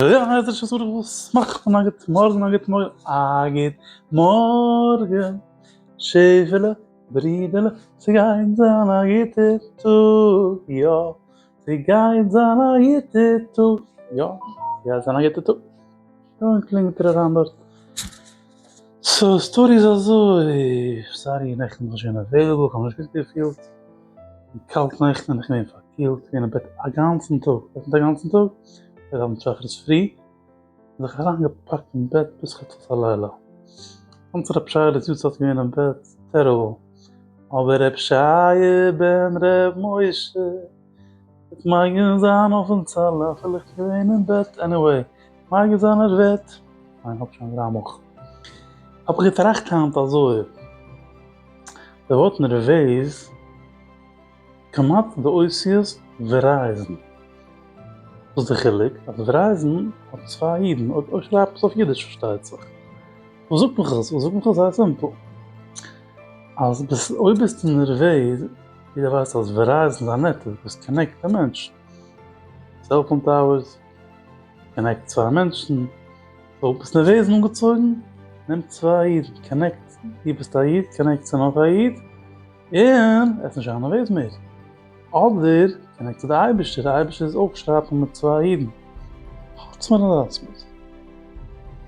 יא יא עס איז שוין זארעכ וואס מאכט מען א גוט מארגען א גוט מארגען א גוט מארגען שעפעלע ברידעלע ס'גייט זיין א גוטער טאג יא ס'גייט זיין א גוטער טאג יא ס'גייט זיין א גוטער טאג און קלינגט ער אריין דארט. סאו סטארי איז אזוי, סארי נעכטן בין איך שוין עוועליבעל, כ'האב נישט גוט געפילט, און קאלט נעכטן און איך געווען פארקילט, כ'בין געווען אין בעט אגאנצן טאג, ווער קומט אגאנצן טאג? גייט ארבעטן שחרית פרי, און זיך אריין געפאקט אין בעט ביז חצות הלילה, קומט ר' שייעלע'ס יארצייט געווען אין בעט, טעריבל, אבער ר' שייע בן ר' משה. וועט מגין זיין אויפן צל אפילו איך בין געווען אין בעט עניוועי מגין זיין ער וועט ניין איך האב שוין דרײַ מאל כ'האב געטראכט היינט אזוי די ווארט נערוועז כמעט די אותיות ווערייזן וואס די חילוק אז ווערייזן האט צוויי אידן אויב אויב שרייבט מען עס אויף אידיש פארשטייט זיך וואס זאגט מיך עס וואס זאגט מיך עס זייער סימפל אז ביסט אויב ביסטו נערוועז. יעדער ווייסט אז ווערייזן איז א נעטווארק וואס קאנעקט די מענטשן. סעלפאון טאוערס קאנעקט צוויי מענטשן. סאו ביסט נערוועז און אנגעצויגן? נעם צוויי אידן, קאנעקט, דו ביסט א איד, קאנעקט צו נאך א איד, און עס איז נישט זיין נערוועז מער. אדער קאנעקט צו די אייבערשטער, די אייבערשטער איז אויך שרייפן מיט צוויי אידן. חוץ מרענאלדס מוזיק.